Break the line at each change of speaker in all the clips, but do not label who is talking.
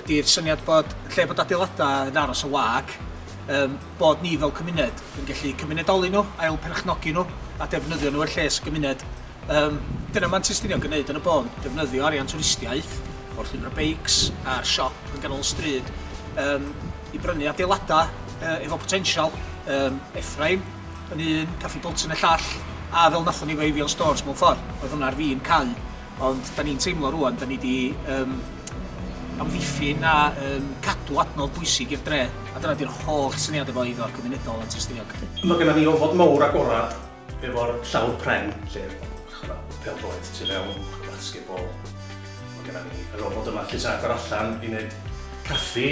ydy'r syniad bod lle bod adeiladau yn aros yn wag, yym, bod ni fel cymuned yn gallu cymunedoli nhw, ail perchnogi nhw a defnyddio nhw er lles y gymuned. Yym, dyna mae'n Testiniog yn neud yn y bôn, defnyddio arian twristiaeth o'r llwybr beics a'r siop yn ganol y stryd yym, i brynu adeiladau yy, efo potensial, um, Efraim yn un, Caffi Bolton y llall, a fel nathon ni efo Avion Stores mewn ffordd, oedd hwnna ar fin cau. Ond 'dan ni'n teimlo rŵan, 'dan ni 'di yym amddiffyn a yym cadw adnodd bwysig i'r dre, a dyna 'di'r holl syniad efo eiddo cymunedol Antur-Stiniog. Mae gennon ni ofod
mowr agored efo'r llawr pren lle ma' 'na pêl-droed tu fewn, basketball, ma' gennon ni yr ofod yma lle ti'n agor allan i neud caffi,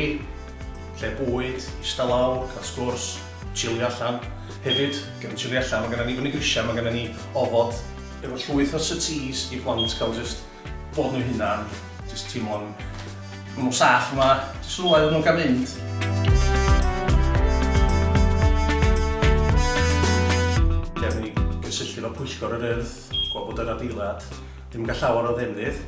lle bwyd, ista lawr, cael sgwrs, chilio allan. Hefyd, gen- chilio allan, ma' gennon ni fyny grisia, ma' gennon ni ofod efo llwyth o settees i plant cael jyst bod nhw hunan, jyst teimlo'n bod nhw'n saff yma, jyst rhywle iddyn nhw gael mynd. Gawn ni gysylltu efo Pwyllgor yr Urdd, gweld bod yr adeilad ddim yn cael llawer o ddefnydd.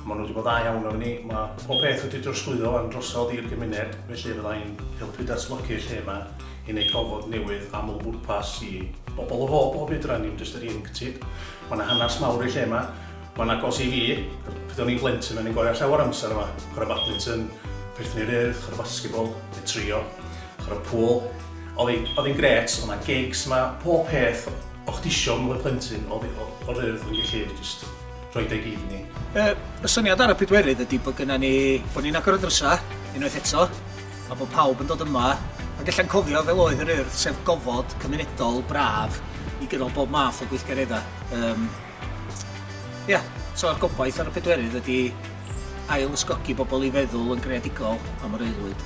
Maen nhw wedi bod dda iawn efo ni, mae pob peth wedi drosglwyddo wan drosodd i'r gymuned, felly fydda i'n helpu datblygu y lle yma i wneud gofod newydd aml-bwrpas i bobl o bob bob oedran, dim jyst yr ieuenctid. Mae yna hanes mawr i'r lle yma, mae'n agos i fi, pryd o'n i'n blentyn o'n i'n gwario llawer amser yma, chwarae badminton, perthyn i'r Urdd, chwarae basketball, neu trio, chwarae pŵl. Oedd hi'n gret, o'na gigs yma, pob peth o'ch disio pan oedd plentyn oedd o'r Urdd yn gallu just rhoi deg iddyn ni. Y, y syniad ar
y pedwerydd ydy bod gyda ni, bod ni'n agor y drysau, unwaith eto, a bod pawb yn dod yma, ac allan cofio fel oedd yr urdd, sef gofod cymunedol braf i gynnal bob math o gweithgareddau. Um, Ia, yeah, so a'r gobaith ar y pedwerydd ydy ail ysgogi bobl i feddwl yn greadigol am yr aelwyd.